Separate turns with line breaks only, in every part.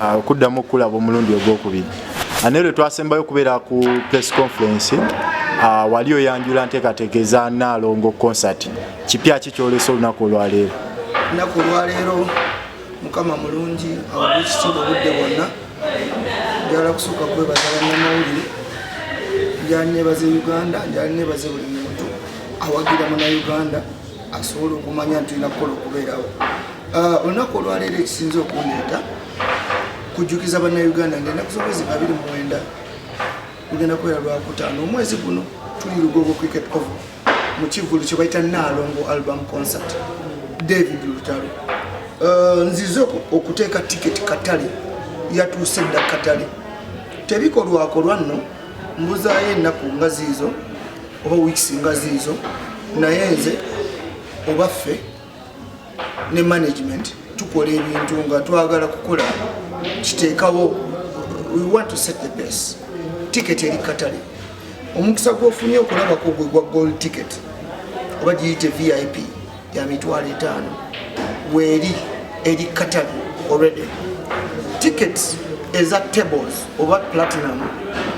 Ah, okuddamu okukulaba omulundi ogwokubiri ah, naye lwe twasembayo okubeera ku press conference ah, wali oyanjula nteekateeka eza naalongo concert kipya ki kyolesa olunaku olwaleero lunaku
olwaleero mukama mulungi awaekitiibwa obudde bwonna njala kusooka kwebaza bannamawulire njala nebaza e uganda njala nebaza buli muntu awagira muna uganda asobola okumanya nti olina kukola okubeerawo ah, olunaku olwaleero ekisinza okundeeta kujjukiza bannayuganda nti enaku z'omwezi babiri muwenda lugenda kubeera lwakutaano omwezi guno tuli lugogo cricket ov mu kivulu kye bayita naalongo album concert david lutalo ah, nzize okuteeka tiketi katale yatuuse dda katale tebikolwakolwa nno mbuzaayo ennaku nga ziizo oba weeks nga ziizo naye nze oba ffe ne management tukola ebintu nga twagala kukola kiteekawo we want to set the base ticket eri katale omukisa gwofunye okulabako gwe gwa gold ticket oba giyite vip ya mitwalo etaano weeri eri katabi already tickets eza tables oba platinum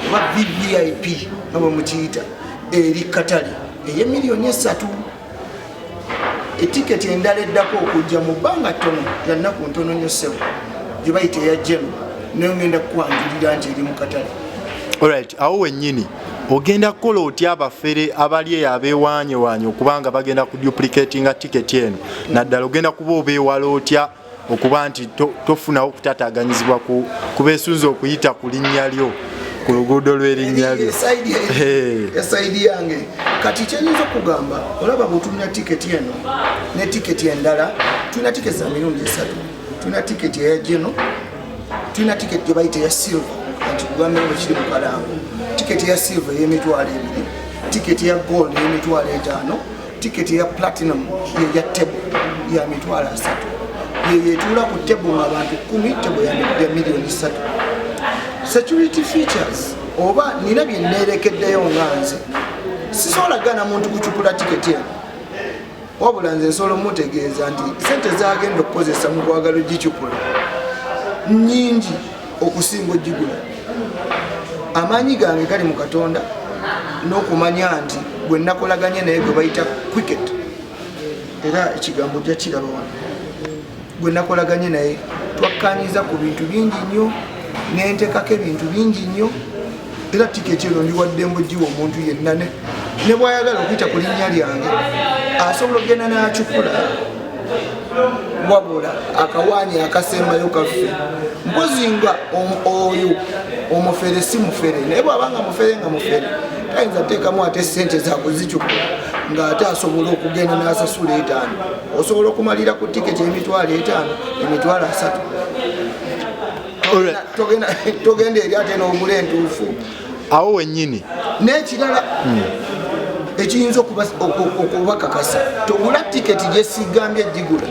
oba vvip nga bwe mukiyita eri katale eye miliyoni esatu etiketi endala eddako okujja mu bbanga ttono yannaku ntono nyo sebo gye bayita eya jeno nayo ngenda kukwanjulira nti eri mu katale olright
awo wennyini ogenda kukola otya abafere abali eyo abeewaanyewaanye okuba nga bagenda ku duplicatinga tiketi eno naddala ogenda kuba obeewala otya okuba nti tofunawo kutataaganyizibwa kubeesunza okuyita ku linnya lyo ku luguudo lw'erinnya lyo esaidi
yange kati kyenyinza okugamba olaba bwetulina tiketi eno ne tiketi endala tulina tiketi za mirundi esatu tulina tiketi eya geno tulina tiketi gye bayita eya silver nti kugamba eno kiri mu kalango tiketi eya silver ey'emitwalo ebiri tiketi eya gold ey'emitwalo etaano tiketi eya platinum yeya table ya mitwalo asatu yeyetuula ku table nga abantu kumi table ya miliyoni satu security features oba nina bye neerekeddeyo nga nze sisobola gana muntu kucupula tiketi eno wabula nze nsobola omutegeeza nti sente zagenda okukozesa mu kwagala ogicupula nyingi okusinga ogigula amaanyi gange gali mu katonda n'okumanya nti gwe nakolaganye naye gwe bayita quicket era ekigambo jakiraba wano gwe nakolaganye naye twakkanyiza ku bintu bingi nnyo nentekako ebintu bingi nnyo era tiketi eno ndiwadde mbugiwa omuntu yenna ne bwayagala okuyita ku linnya lyange asobola okugenda n'akikula wabula akawaanyi akasembayo kaffe mpozi nga oyo omufere si mufere naye bwaba nga mufere nga mufere tayinza teekamu ate sente zakuzicukula ng'ate asobola okugenda n'asasula etaano osobola okumalira ku tiketi emitwalo etaano emitwalo asatu togenda eri ate n'ogula entuufu awo wenyini
n'ekirala
hmm. ekiyinza okubakakasa togula tiketi gyesigambye egigula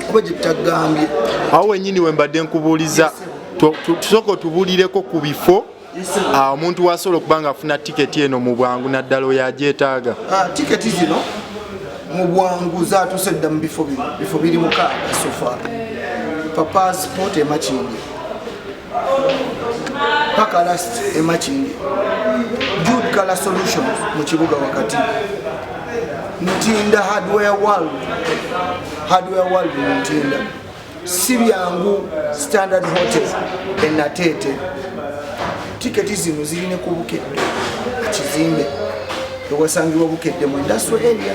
kuba gyetagambye awo wenyini
wembadde nkubuuliza tusooka otubulireko ku bifo Ah, omuntu wasobola okuba nga afuna tiketi eno mu bwangu naddala oyo agyetaaga ah, tiketi zino
mu bwangu zatuuse dda mu bifo bino bifo biri mukaaga sofa papa sport emakindi pakalast emakindi jud color solutions mu kibuga wakati ntinda hardware world hardware world mu ntinda si byangu standard hotel enateete tiketi zino zirine ku bukedde kizimbe ewasangibwa bukedde mu industrial area